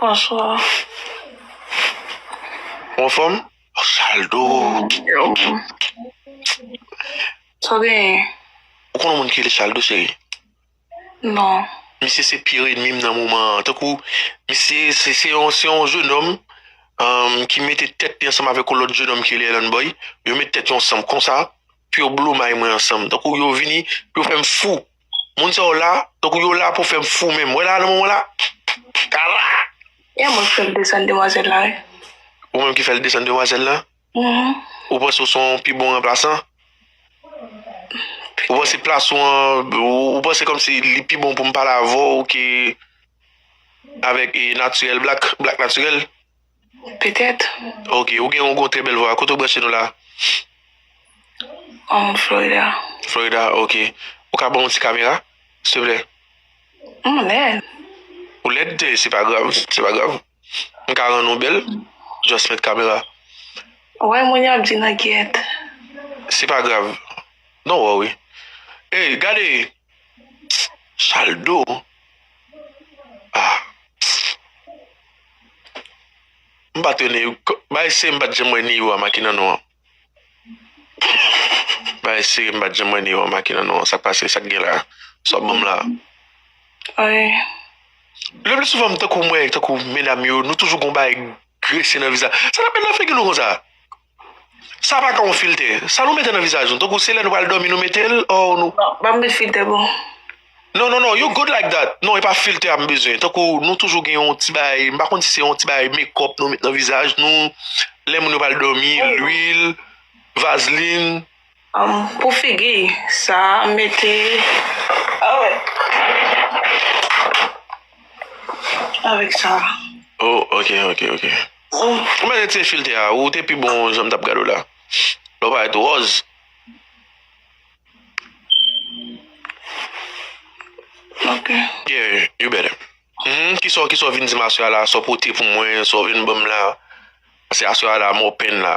Bonswa. Ou anfòm? Ou sal tou. Sa w genyen? Ou konn yon moun ki rele Shaldo cheri? Non. Misye se pire enmi m nan moman an. Tankou misye se yon jenòm ki mete tèt li ansanm avèk yon lòt jenòm ki rele Elanboy. Yo met tèt yo ansanm konsa pou yo blomay mwen ansanm. Tankou yo vini pou yo fè m fou. Moun sa yo la tankou yo la pou fèm fou menm wè la nan moman la Carla. Epa mwen ki fèl desann demwazèl la wi. Ou menm ki fèl desann demwazèl la? Ou panse ou son pi bon ranplasan? Ou panse plas ou an, ou panse kòmsi li pi bon pou m pale avè w ke avèk Naturel Black, Black Naturel? Petèt. Ok, ou gen yon trè bèl vwa. Kote ou branche nou la? Um, Florida. Florida, ok. Ou ka banm yon ti kamera? Silvouplè. M lèd. Ou lèd? Se pa grav, se pa grav. M ka rann ou bèl? Just met kamera. Ou wè moun yo ap di nan gyèt. Se pa grav. Non wè wi. Ey, gade! Chaldo ahh m pat wè neyou bay sere m pat janm wè neyou a maki nan non an bay sere m pat janm wè neyou a maki nan non an sak pase sak gen la sa w banm la lepli souvan m tankou m wè tankou medam yo nou toujou gon bagay grese nan vizaj sa nap met nan figi nou konsa. Sa pa ka yon filtè. Sa nou mete nan vizaj nou tankou se lè nou pral dòmi nou metel or nou. Non pap met filtè bon. Non non non you good like that non e pa filtè a m bezwen tankou nou toujou gen yon ti bagay m pa konn si se yon ti bagay mekòp nou met nan vizaj nou lè moun yo pral dòmi lwil vazlin Pou figi sa mete avek sa. Oh ok ok ok. Ou met retire filter a ou te pi bon janm tap gad ou la. Lè w paret ròz. Ok. Yeah you better. Kisa w kisa w vin di m aswè a la sa w pote pou mwen sa w vin banm la. Paske aswè a la mò pen la.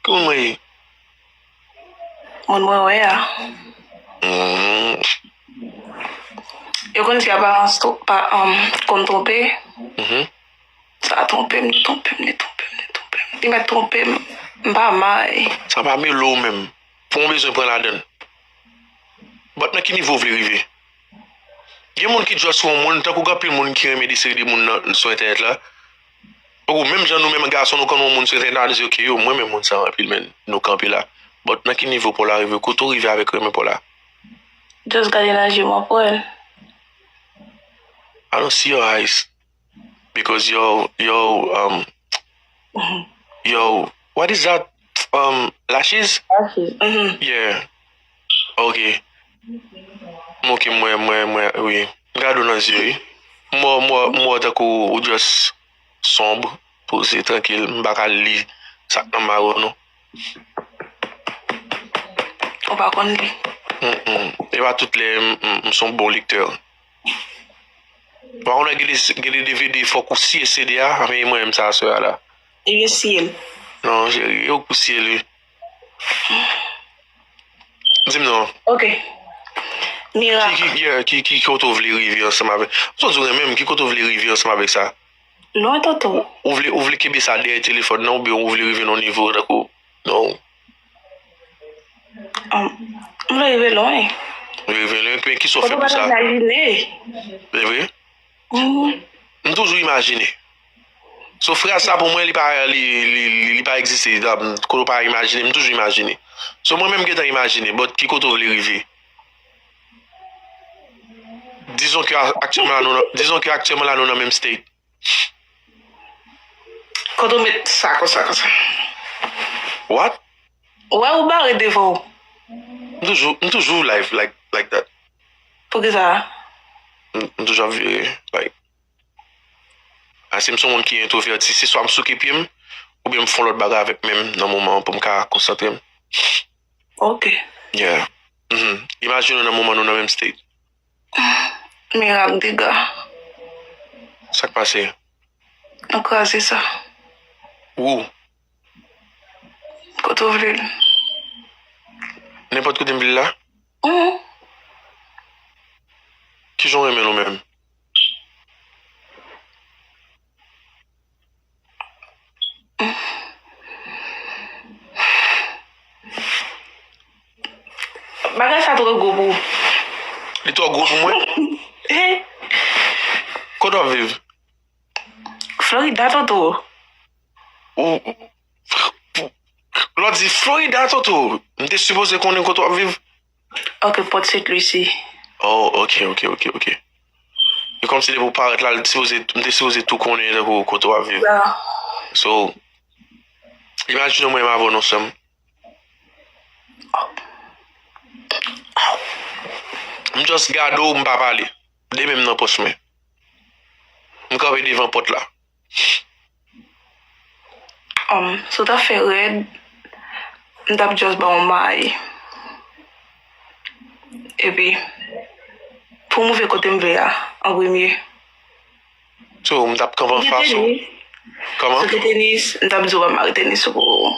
Ki moun mwen ye? Moun mwen wè a. Yo konn di aparans konn twonpe. Sa twonpe m, li twonpe m, li twonpe m, li twonpe m. Li mèt twonpe m, m pa may. Sa pa mele w menm pou yon bezwen pran ladan l. But nan ki nivo w vle rive? Gen moun ki just wè yon moun, tankou gen anpil moun ki renmen de seri de moun sou entènèt la, Ou menm jan nou menm gason nou konn yon moun se vin nan di ok yo mwen renmen moun sa anpil men nou kanpe la but nan ki nivo paw la rive kote ou rive avèk renmen paw la Just gade nan jem wap wèl. I don't see your eyes because your your um your what is that um lashes Lashes, mhm. yeah. Ok m ok m wè mwen mwen wi m gade w nan zye wi m wè w m wè w tankou ou just sombre poze trankil m paka li sak nan maw non ou pa konn li e pa tout lè m son bon lektè ou pa konn wè gen de dvd fòk ou siye cd a anmeyy mwen menm sa aswè a la e gen siye l non cheri e ou k pou siye l wi. Dim non. Ok. Mira. Ki ki yeah, ki ki kote ou vle rive ansanm avè. Mson di ou renmenm, ki kote ou vle rive ansanm avèk sa? Lwen toto. Ou vle ou vle kenbe sa dèyè telefòn nan oubyen ou vle rive nan yon nivo tankou non. An. M vle rive lwen. Ou vle rive lwen, men kisa ou fè pou sa? Kote ou pa ta imajine. Evre? Wi. M toujou imajine. So fraz sa pou mwen li pa li pa egziste kote ou pa imajine m toujou imajine so mwen menm m gentan imajine but ki kote ou vle rive dizon ke aktyèman la nou nan menm state kote ou met sa konsa konsa what ou wè ou bare devan ou m toujou m toujou live like that poukisa m toujou ap vire like. Asim son moun ki entrovèti se swa m souke pye m oubyen m fon lòt bagay avèk menm nan moman an pou m ka konsantre m. Ok. Yeah. Mhm. Imajine w nan moman nou nan menm state. Mira ak dega. Sak pase? Nou kraze sa. Wou. Kote w vle l? Nenpòt kote m vle l la? Mhm. Kijan w renmen l ou menm? Bagay sa tro gwo pou ou. Li tro gwo pou mwen? He. Kote wap viv? Florida toto. Ou, pou, lò di Florida toto, m te sipoze konnen kote wap viv. Ok port st lucie. Oh ok ok ok ok e kòmsi depi ou parèt la li sipoze m te sipoze tou konnen tankou kote wap viv so imajine mwen menm avèw non sèm m just gade w m pa pale 2 menm nan pòch mwen m kanpe devan pòt la. Humm si w ta fè rèd m tap just ba w may epi pou m rive kote m vle a an premye So m tap kanpe an fas ou? Kòman? Si w te tenis m tap di w ba m mare tenis ou pou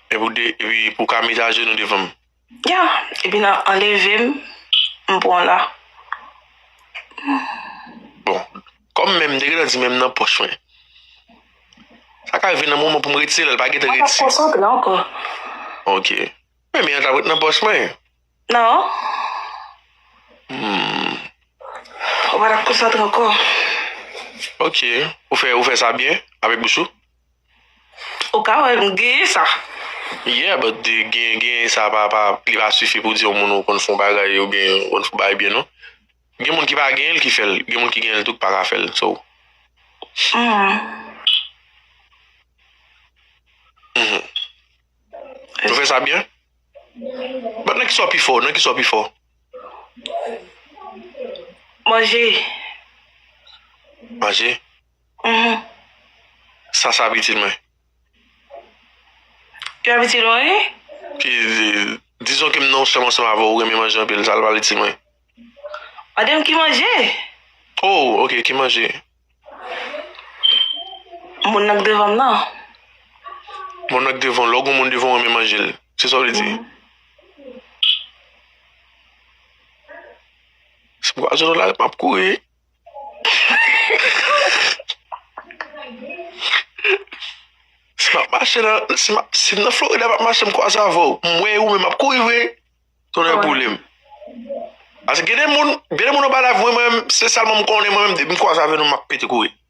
Epi pou w ka met ajenou devan m? Yeah epi nan anleve m m pran w la. Bon kòm menm m te gentan di menm nan pòch mwen. Sa ka rive nan moman pou m retire lè l pa gentan retire. Mwen pa t konsantre ankò. Ok men men an ta p ret nan pòch mwen. Nan. Hum. Ou pa t ap konsantre ankò. Ok ou fè sa byen avèk bouch ou. Ou ka wè m genyen sa. Yeah but genyen sa pa li pa sifi pou di yon moun ou konn fon bagay ou byen ou konn fon bagay byen non. Gen moun ki pa genyen l ki fè l, gen moun ki genyen l tou ki pa ka fè l so. Nou fè sa byen? But nan kisa w pi fò? Nan kisa w pi fò? Manje. Manje? Humm sa sa pitit mwen. Li pa pitit ou anyen? Ki dizon kem non sèm ansanm avèw ou renmen manje anpil sa li pa pitit mwen. Mandem ki manje? Oh ok ki manje? Moun nan k devanm nan. Moun nan k devanw lè ou gen moun devanw ou renmen manjel se sa ou vle di? Humm. Si m kwaze w nan lari map kouri. Si map mache nan, si map, si m nan Florida map mache m kwaze avè w, m wè ou men map kouri vre, tonnè boule m. Ase gen de moun, gen de moun anba la vwe mwen menm, se sèlman m konnen mwen menm depi m kwaze avè nou map pete kouri.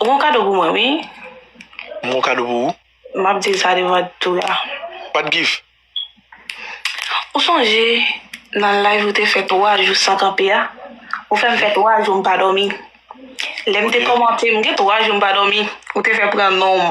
Ou gon kado pou mwen wi. M gon kado pou ou. M ap di l sa devan tout la. Pat gif. Ou sonje nan live ou te fè 3 jou san kanpe a? Ou fè m fè 3 jou m pa dòmi. Lè m te kòmante m gen 3 jou m pa dòmi, ou te fè pran non m.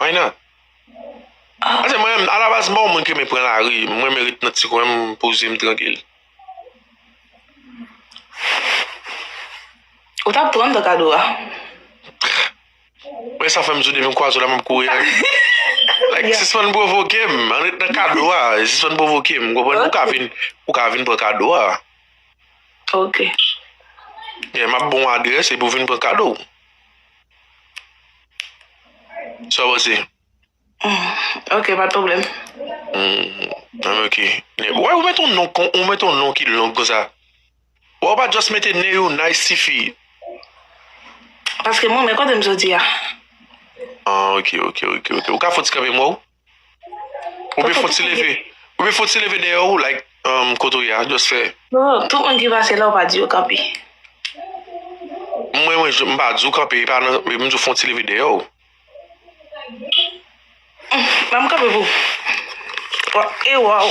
Why not? Paske mwen menm, alabaz m pa yon moun ki renmen pran lari. M renmen ret nan ti kwen m, m poze m trankil. Ou tap pranm dan kado a. Mwen sa fèm di w depi m kwaze w la map kouri ale. Like sispann pwovoke m, ann ret nan kado a, sispann pwovoke m, ou konprann? Ou ka vin, ou ka vin pran kado a. Ok. Yeah, map ba w adrès epi w vin pran kado w. Sa w panse? Ok, pa t pwoblèm. An ok. Wè ou met on non kon, ou met on non ki long konsa. Wè ou pa just mete Neyounay sifi. Paske m renmen kote m soti a. An ok, ok, ok. Ou ka fon ti kanpe m wè ou? Oubyen fout ti leve Oubyen fout ti leve dèyè ou like kote ou ye a just fè Tout moun ki pase la ou pa di yo kanpe Mwen mwen m pa di ou kanpe epa nan m di ou fon ti leve dèyè ou Ba m kanpe pou ou Wap e waww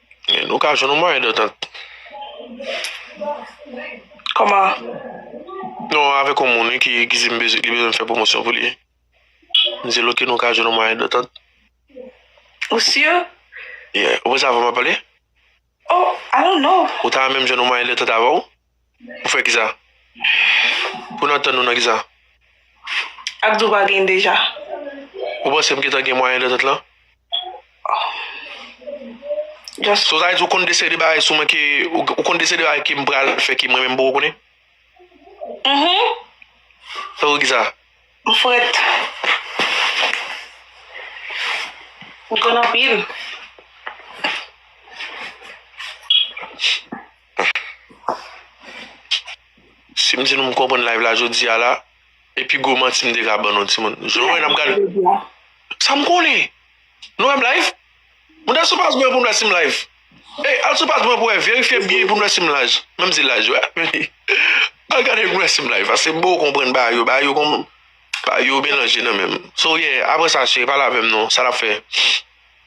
Nou ka jwenn yon mwayen dantant. Koman? Non, avèk yon moun wi ki di m li bezwen m fè pwomosyon pou li. M di l ok nou ka jwenn yon mwayen dantant. Ou sur? Yeah. Ou pa sa vle m ap pale? Oh, I don't know. Ou ta renmen m jwenn yon mwayen dantant avè w? Ou fè kisa? Pou n antann nou nan kisa? Ak di w pa gen deja. Ou panse m gentan gen mwayen dantant lan? Just. So sa vle di ou konn de seri de bagay sou mwen ke, ou konn de seri de bagay ke m pral fè ke mwen menm m poko konnen? Mhumm. Tankou kisa? M frèt. M konn anpil. Sim di nou m konprann live la jodia la e pi gwo manti m te ka ban nou timoun jan nou wè nap gade Sam konnen Nou wèm live Mwen ta sou paj mwen poum wè sim live Ey al sou paj mwen pou wè verifye byen poun wè sim laj menm si laj wè Al gade poun wè sim live pase m poko konprann bagay yo bagay yo konn bagay yo melanje nan menm So yeah apresa cheri pale avèm non sa nap fè.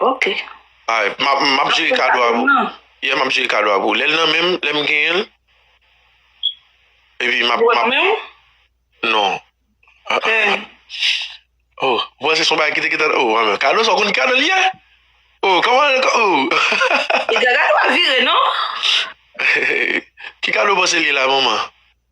Ok. Alright, m ap, m ap jere kado a pou, yeah m ap jere kado a pou ou. Lè l nan menm, lè m genyen l, epi m ap, m ap. Ou wè nan men ou? Non. Eh. Oh, ou panse se yon bagay ki te gentan, oh anmè, kado sa ou konn ki kado l ye? Oh, kòman l, oh. Epi kado a vire non. Ki kado ou panse l ye la manman?